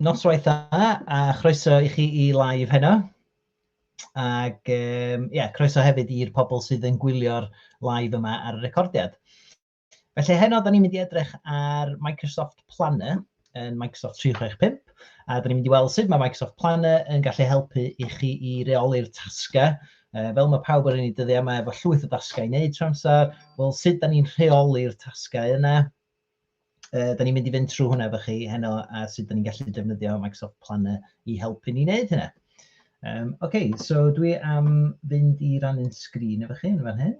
Noswaith dda a chroeso i chi i live heno. Ac um, yeah, croeso hefyd i'r pobl sydd yn gwylio'r live yma ar y recordiad. Felly heno, da ni'n mynd i edrych ar Microsoft Planner, yn Microsoft 365, a dyn ni'n mynd i weld sut mae Microsoft Planner yn gallu helpu i chi i reoli'r tasgau. Uh, fel mae pawb yn ei dyddiau yma efo llwyth o dasgau i wneud trwy amser, wel sut da ni'n rheoli'r tasgau yna. Uh, da ni'n mynd i fynd trwy hwnna efo chi heno a sut da ni'n gallu defnyddio Microsoft Planner i helpu ni wneud hynna. Um, Oce, okay, so dwi am fynd i rannu'n sgrin efo chi yn fan hyn.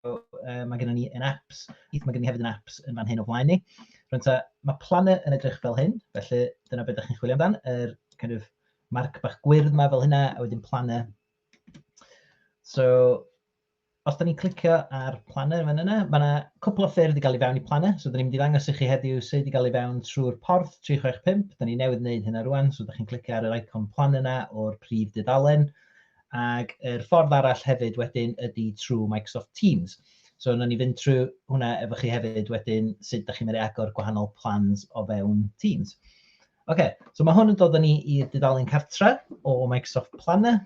So, uh, mae gennym ni yn apps, mae gennym ni hefyd yn apps yn fan hyn o flaen ni. Rwy'n ta, mae planau yn edrych fel hyn, felly dyna beth ydych chi'n chwilio amdan, yr er kind of marc bach gwyrdd yma fel hynna, a wedyn planau. So, os da ni'n clicio ar planau fan yna, mae yna cwpl o ffyrdd i gael ei fewn i planau. So, da ni'n mynd i ddangos i chi heddiw sut i gael ei fewn trwy'r porth 365. Da ni newydd wneud hynna rwan, so da chi'n clicio ar yr icon plan yna o'r prif dudalen. ac yr ffordd arall hefyd wedyn ydy trwy Microsoft Teams. So wnawn ni fynd trwy hwnna efo chi hefyd wedyn, sut da chi'n mynd i agor gwahanol plans o fewn Teams. Oce, okay, so mae hwn yn dod â ni i'r dudalen cartre o Microsoft Planner.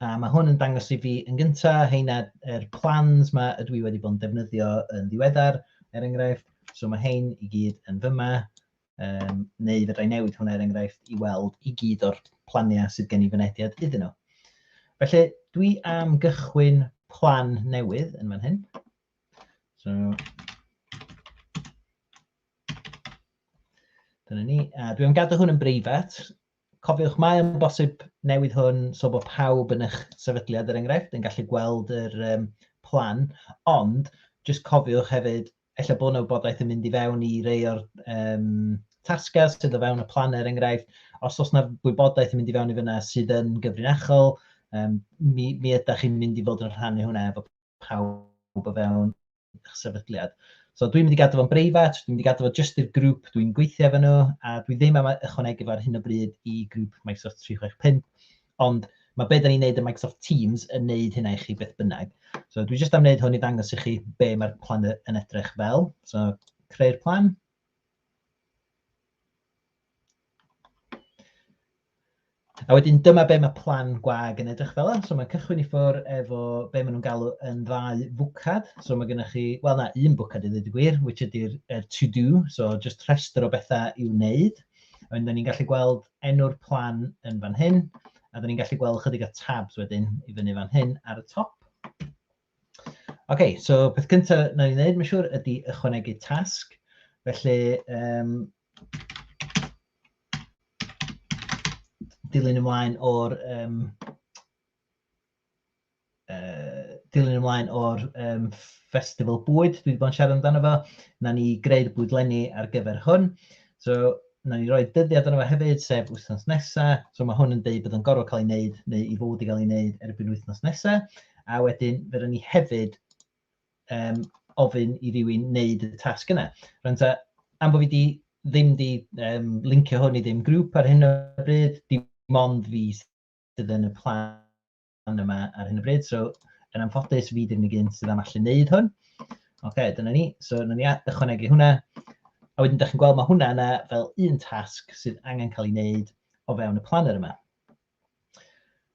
A mae hwn yn dangos i fi yn gyntaf, heina yr plans mae ydw i wedi bod yn defnyddio yn ddiweddar, er enghraifft. So mae hein i gyd yn fyma. Um, neu fedra i newid hwnna er enghraifft i weld i gyd o'r planiau sydd gen i fynediad iddyn nhw. Felly, dwi am gychwyn plan newydd yn fan hyn. So, dyna ni. A dwi am gadw hwn yn breifat. Cofiwch, mae yn bosib newid hwn so bod pawb yn eich sefydliad, er enghraifft, yn gallu gweld yr um, plan, ond jyst cofiwch hefyd ella bod yna wybodaeth yn mynd i fewn i rei o'r um, tasgau sydd o fewn y plan er enghraifft, os oes yna wybodaeth yn mynd i fewn i fyna sydd yn gyfrinachol, um, mi, mi ydych chi'n mynd i fod yn rhannu hwnna efo pawb o fewn eich sefydliad. So dwi'n mynd i gadw fo'n breifat, dwi'n mynd i gadw fo jyst i'r grŵp dwi'n gweithio efo nhw, a dwi ddim am ychwanegu fo ar hyn o bryd i grŵp Microsoft 365. Ond mae be da ni'n neud yn Microsoft Teams yn neud hynna i chi beth bynnag. So dwi jyst am wneud hwn i ddangos i chi be mae'r plan yn edrych fel. So creu'r plan. A wedyn dyma be mae plan gwag yn edrych fel. So mae'n cychwyn i ffwr efo be maen nhw'n galw yn ddau fwcad. So mae gennych chi, wel na, un bwcad i ddweud y gwir, which ydy'r er to do, so just rhestr o bethau i'w wneud. Wedyn, da ni'n gallu gweld enw'r plan yn fan hyn, a da ni'n gallu gweld chydig o tabs wedyn i fyny fan hyn ar y top. OK, so peth cyntaf na ni'n gwneud, mae'n siŵr, ydy ychwanegu tasg. Felly, um, dilyn ymlaen o'r um, uh, dilyn ymlaen o'r um, festival bwyd, dwi wedi bod yn siarad amdano fo, na ni greu'r bwydlenni ar gyfer hwn. So, na ni roi dyddiad yno fo hefyd, sef wythnos nesa. So mae hwn yn dweud bod yn gorfod cael ei wneud, neu i fod i gael ei wneud erbyn wythnos nesa. A wedyn, fe ni hefyd um, ofyn i rywun wneud y tasg yna. Rwy'n ta, am bod fi di, ddim di um, lincio hwn i ddim grŵp ar hyn o bryd, dim ond fi sydd yn y plan yma ar hyn o bryd. So, yn anffodus, fi ddim yn gyn sydd am allu wneud hwn. Oce, okay, dyna ni. So, dyna ni ychwanegu hwnna. A wedyn, da chi'n gweld, mae hwnna yna fel un tasg sydd angen cael ei wneud o fewn y planner yma.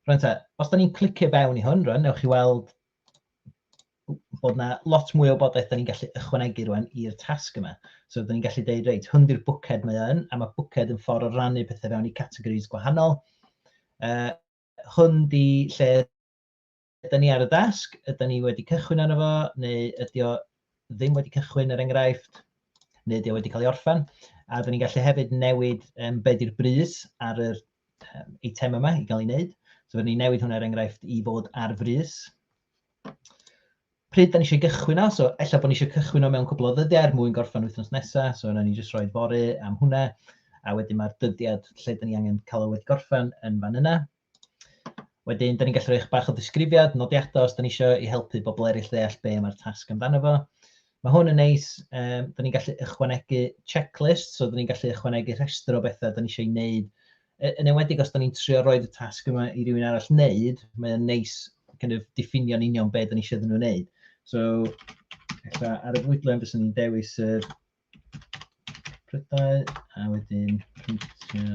Rwy'n ta, os da ni'n clicio fewn i hwn, rwy'n, newch chi weld bod yna lot mwy o wybodaeth da ni'n gallu ychwanegu rwan i'r tasg yma. So da ni'n gallu dweud, reit, hwn di'r bwced mae yn, a mae bwced yn ffordd o rannu pethau fewn i categories gwahanol. Uh, hwn di lle ydy ni ar y dasg, ydy ni wedi cychwyn arno fo, neu ydy o ddim wedi cychwyn yr er enghraifft, neu ydy o wedi cael ei orffen. A dyn ni'n gallu hefyd newid um, beth yw'r brys ar yr um, eitem yma i gael ei wneud. So fydden ni'n newid hwnna er enghraifft i fod ar frys. Pryd da ni eisiau gychwyn o, so ella bod ni eisiau cychwyn o mewn cwbl o ddyddiau er mwyn gorffen wythnos nesaf, so yna ni jyst rhoi fori am hwnna, a wedyn mae'r dyddiad lle da ni angen cael o wedi gorffen yn fan yna. Wedyn, da ni'n gallu rhoi bach o ddisgrifiad, nodiadau os da ni eisiau i helpu bobl eraill ddeall be mae'r tasg amdano fo. Mae hwn yn neis, um, da ni'n gallu ychwanegu checklist, so da ni'n gallu ychwanegu rhestr o bethau da ni eisiau ei wneud. E, yn enwedig os da ni'n trio roed y tasg yma i rywun arall wneud, mae'n neis kind of, diffinio'n union be da ni eisiau iddyn nhw wneud. So, ar y fwydlen fyswn ni'n dewis yr prydau a wedyn printio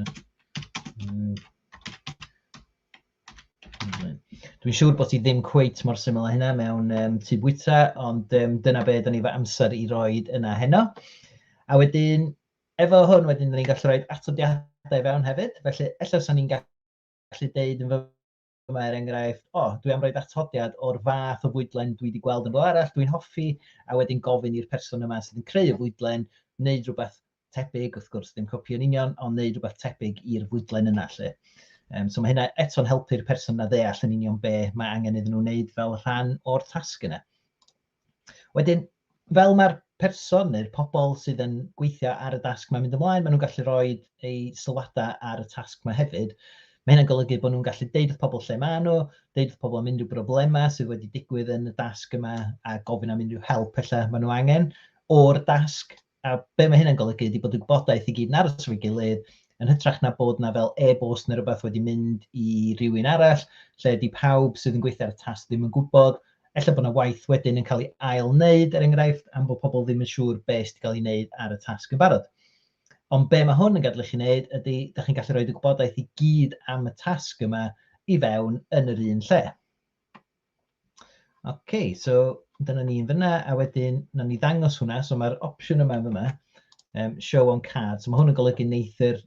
Dwi'n siŵr bod ti ddim cweit mor syml â hynna mewn um, tu bwyta, ond um, dyna beth o'n ni fy amser i roi yna heno. A wedyn, efo hwn wedyn, Dyma er enghraifft, o, oh, dwi am roed atodiad o'r fath o fwydlen dwi wedi gweld yn rhywle arall, dwi'n hoffi, a wedyn gofyn i'r person yma sydd yn creu y fwydlen, wneud rhywbeth tebyg, wrth gwrs, ddim copi yn union, ond wneud rhywbeth tebyg i'r fwydlen yna lle. Um, so mae hynna eto'n helpu'r person na ddeall yn union be mae angen iddyn nhw wneud fel rhan o'r tasg yna. Wedyn, fel mae'r person neu'r pobl sydd yn gweithio ar y dasg mae'n mynd ymlaen, maen nhw'n gallu rhoi eu sylwadau ar y tasg yma hefyd. Mae hynna'n golygu bod nhw'n gallu deud wrth pobl lle maen nhw, deud wrth pobl am unrhyw broblemau sydd wedi digwydd yn y dasg yma a gofyn am unrhyw help felly maen nhw angen o'r dasg A be mae hynna'n golygu ydy bod y gwybodaeth i gyd yn aros efo'i gilydd, yn hytrach na bod 'na fel e-bost neu rywbeth wedi mynd i rywun arall, lle 'di pawb sydd yn gweithio ar y tasg ddim yn gwybod. Ella bod 'na waith wedyn yn cael ei ail-wneud, er enghraifft, am bod pobl ddim yn siŵr be sydd 'di cael ei wneud ar y tasg yn barod. Ond be mae hwn yn gadel i chi wneud ydy, dach chi'n gallu rhoid y gwybodaeth i gyd am y tasg yma i fewn yn yr un lle. OK, so dyna ni yn fyna, a wedyn na ni ddangos hwnna, so mae'r opsiwn yma yn fyma, um, show on card, so mae hwn yn golygu wneud yr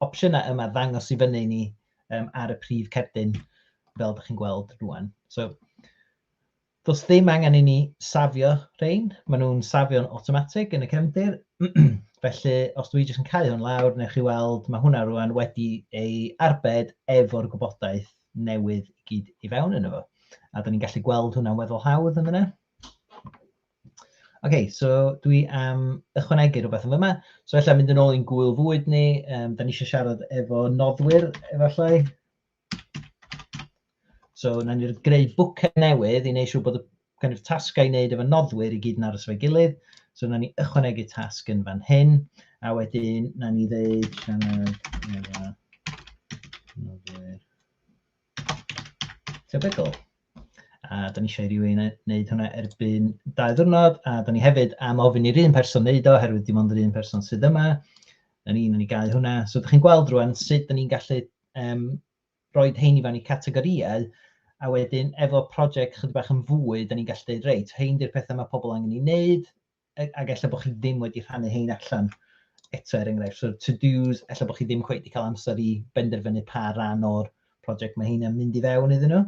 opsiynau yma ddangos i fyny ni um, ar y prif cerdyn fel ydych chi'n gweld rwan. So, does ddim angen i ni safio rhain, maen nhw'n safio'n automatic yn y cefndir. Felly, os dwi jyst yn cael hwn lawr, neu chi weld, mae hwnna rwan wedi ei arbed efo'r gwybodaeth newydd i gyd i fewn yn efo. A da ni'n gallu gweld hwnna'n weddol hawdd yn yna. OK, so dwi am ychwanegu rhywbeth yn yma. So efallai mynd yn ôl i'n gwyl fwyd ni, um, da ni eisiau siarad efo noddwyr efallai. So na ni'n greu bwcau newydd i wneud siŵr bod y gennych tasgau i wneud efo noddwyr i gyd yn aros efo'i gilydd. So wnawn ni ychwanegu tasg yn fan hyn, a wedyn wnawn ni ddeud sianed efo noddwyr tebygol. A da ni eisiau i rywun wneud hwnna erbyn dau ddwrnod, a da ni hefyd am ofyn i'r un person wneud o, oherwydd dim ond yr un person sydd yma. Da ni'n ni gau hwnna. So da chi'n gweld rwan sut da ni'n gallu um, rhoid rhein i fewn i categorïau, a wedyn efo project chydig bach yn fwy, dan ni'n gallu deud, reit, rhein di'r pethau mae pobl angen ei wneud, ac ella bod chi ddim wedi rhannu hein allan eto er enghraifft. So to-dos, ella bod chi ddim cweith wedi cael amser i benderfynu pa ran o'r project mae heina'n mynd i fewn iddyn nhw.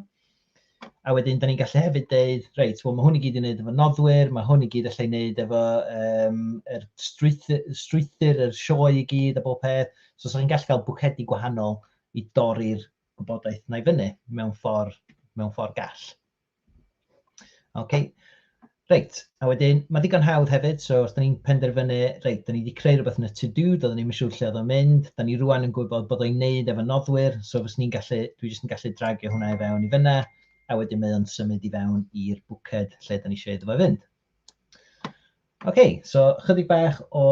A wedyn, da ni'n gallu hefyd deud, reit, well, mae hwn i gyd i wneud efo noddwyr, mae hwn i gyd allai wneud efo um, er strwythyr, strwythyr, yr sioe i gyd a bob peth. So, so chi'n gallu cael bwcedi gwahanol i dorri'r gwybodaeth yna i fyny mewn ffordd, mewn ffordd gall. Ok, reit, a wedyn mae digon hawdd hefyd, so os da ni'n penderfynu, reit, da ni wedi creu rhywbeth yn y to do, doeddwn ni'n siŵr lle oedd o'n mynd, da ni rwan yn gwybod bod o'n neud efo noddwyr, so fes ni'n gallu, dwi jyst yn gallu dragio hwnna i fewn i fyna, a wedyn mae o'n symud i fewn i'r bwced lle da ni eisiau iddo fo fynd. OK, so chydig bach o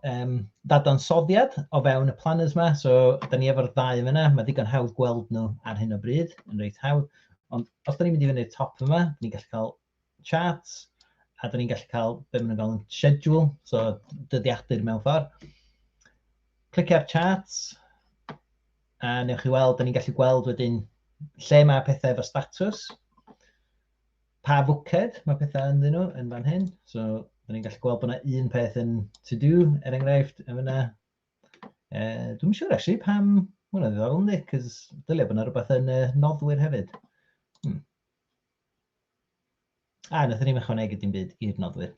um, ddadansoddiad o fewn y planners yma. So, da ni efo'r ddau yna. Mae digon hawdd gweld nhw ar hyn o bryd, yn reit hawdd. Ond os da ni'n mynd i fyny'r top yma, da ni'n gallu cael charts, a da ni'n gallu cael be maen nhw'n galw'n schedule, so dyddiadur mewn ffordd. Clic ar charts, a newch chi weld, da ni'n gallu gweld wedyn lle mae pethau efo statws. pa fwced mae pethau ynddyn nhw yn fan hyn. So, rydyn ni'n gallu gweld bod yna un peth yn to do, er enghraifft, yn fyna. Uh, Dwi'n siŵr, actually, pam... Mae hwnna'n ddiddorol, ynddi, cos dylia bod yna rhywbeth yn uh, noddwyr hefyd. Hmm. A, ah, nath ni'n ychwanegu dim byd i'r noddwyr.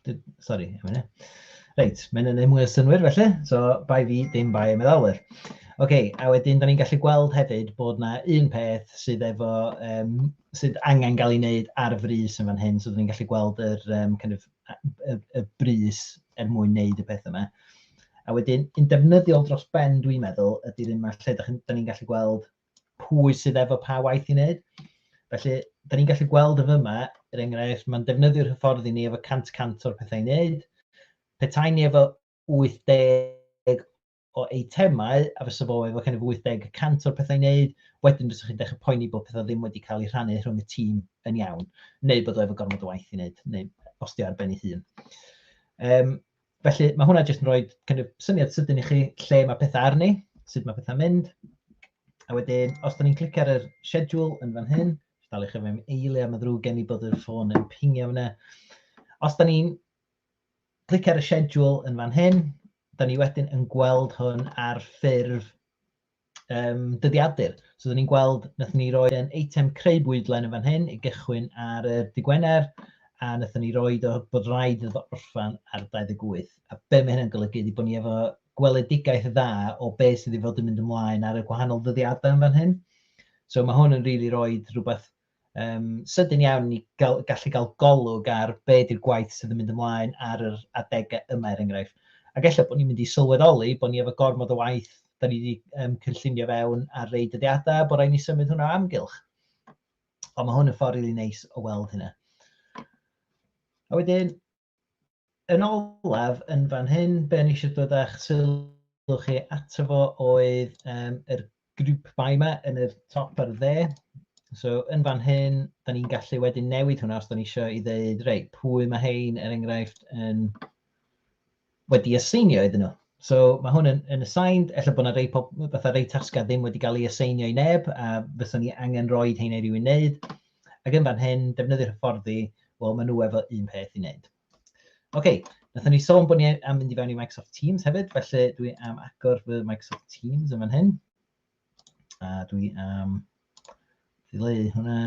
Sorry, am hynny. Reit, mae'n yna mwy o synwyr felly, so bai fi, dim bai y meddalwyr. Oce, okay, a wedyn, da ni'n gallu gweld hefyd bod yna un peth sydd efo um, sydd angen cael ei wneud ar frys yn fan hyn, so ni'n gallu gweld yr, um, kind of, y, y brys er mwyn wneud y peth yma. A wedyn, yn defnyddiol dros ben, dwi'n meddwl, ydy'r un yma lle da ni'n gallu gweld pwy sydd efo pa waith i wneud. Felly, da ni'n gallu gweld y fyma, er enghraifft, mae'n defnyddio'r hyfforddi ni efo 100-100 o'r pethau i wneud. Petai ni efo 80 o eitemau, a fysa fo efo kind of 80 y cant o'r pethau i wneud, wedyn fysa chi'n dechrau poeni bod pethau ddim wedi cael eu rhannu rhwng y tîm yn iawn, neu bod o efo gormod o waith i wneud, neu os di ar ben ei hun. Um, felly mae hwnna jyst yn rhoi kind of, syniad sydyn i chi lle mae pethau arni, sut mae pethau'n mynd. A wedyn, os da ni'n clicio ar yr schedule yn fan hyn, dal i chi mewn eili am y ddrwg gen i bod y ffôn yn pingio fyna. Os da ni'n Clic ar y schedule yn fan hyn. Da ni wedyn yn gweld hwn ar ffurf um, dyddiadur. So, da ni'n gweld, nath ni roi yn eitem creu bwydlen yn fan hyn i gychwyn ar y digwener, a nath ni roi o bod rhaid iddo orffan ar 28. A be mae hynny'n golygu ydy bod ni efo gweledigaeth dda o be sydd wedi fod yn mynd ymlaen ar y gwahanol ddyddiadau yn fan hyn. So mae hwn yn rili really rhoi rhywbeth um, sydyn iawn i gael, gallu cael golwg ar be ydy'r gwaith sydd yn mynd ymlaen ar yr adegau yma er enghraifft. Ac efallai bod ni'n mynd i sylweddoli bod ni efo gormod o waith da ni wedi um, cynllunio fewn ar rei dyddiadau bod rhaid ni symud hwnna amgylch. Ond mae hwn yn ffordd rili really neis o weld hynna. A wedyn, Yn olaf, yn fan hyn, be ni eisiau dod â'ch sylw chi ato fo oedd um, yr grŵp bai yma yn y top ar y dde. So, yn fan hyn, da ni'n gallu wedyn newid hwnna os da ni eisiau i ddeud, rei, pwy mae hein, er enghraifft, yn wedi aseinio iddyn nhw. So mae hwn yn, yn assigned, efallai bod yna rei, fatha rei tasgau ddim wedi cael ei aseinio i neb, a fyswn ni angen rhoi hyn i rywun wneud. Ac yn fan hyn, defnyddir hyfforddi, wel, maen nhw efo un peth i wneud. Oce, okay, nathon ni sôn bod ni am mynd i fewn i Microsoft Teams hefyd, felly dwi am agor fy Microsoft Teams yn fan hyn. A dwi am ddileu hwnna.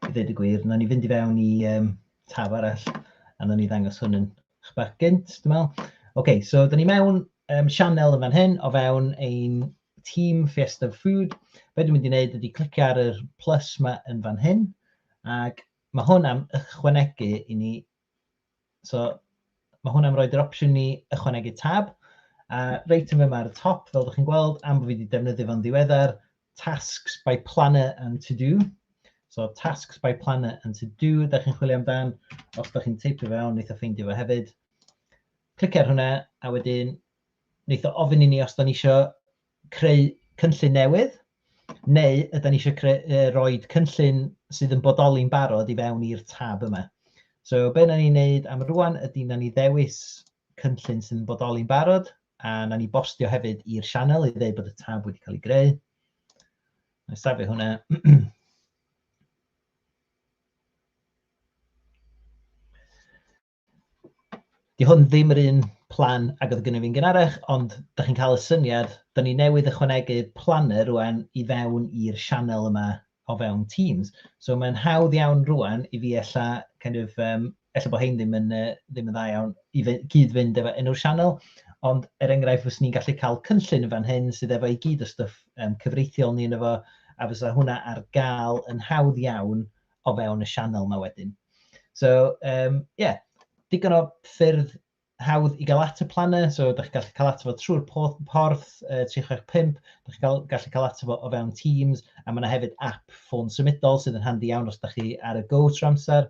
I ddweud y gwir, na ni fynd i fewn i um, tab arall a na ni ddangos hwn yn eich bach gynt, dwi'n meddwl. OK, so da ni mewn um, sianel yn fan hyn o fewn ein tîm Fiesta Food. Be dwi'n mynd i wneud ydy clicio ar y plus yma yn fan hyn ac mae hwn am ychwanegu i ni So, mae hwnna'n rhoi'r opsiwn ni ychwanegu tab. A reit yn fyma ar y top, fel ydych chi'n gweld, am bod fi wedi defnyddio fo'n ddiweddar, tasks by planner and to do. So tasks by planner and to do, da chi'n chwilio amdan, os da chi'n teipio fe o'n, eitha ffeindio fe hefyd. Clic ar hwnna, a wedyn, wneud o ofyn i ni os da ni eisiau creu cynllun newydd, neu yda ni eisiau creu, uh, roi cynllun sydd yn bodoli'n barod i fewn i'r tab yma. So be na ni'n neud am rwan ydy na ni ddewis cynllun sydd yn bodoli'n barod a na ni bostio hefyd i'r sianel i ddeud bod y tab wedi cael ei greu. Na safio hwnna. Di hwn ddim yr un plan ag oedd gynnu fi'n gynharach, ond da chi'n cael y syniad, da ni newydd ychwanegu planner rwan i fewn i'r sianel yma o fewn Teams. So mae'n hawdd iawn rwan i fi ella, kind of, um, ella bod hein ddim yn, uh, ddim yn dda iawn i fe, gyd fynd efo enw'r sianel, ond er enghraifft fes ni'n gallu cael cynllun yn fan hyn sydd efo i gyd o stuff um, cyfreithiol ni yn efo, a fysa hwnna ar gael yn hawdd iawn o fewn y sianel yma wedyn. So, um, yeah, digon o ffyrdd hawdd i gael at y planau, so ydych chi'n gallu cael at fo trwy'r porth, porth uh, 365, ydych chi'n gallu cael at fo o fewn Teams, a mae yna hefyd app ffôn symudol sydd yn handi iawn os ydych chi ar y go tro amser.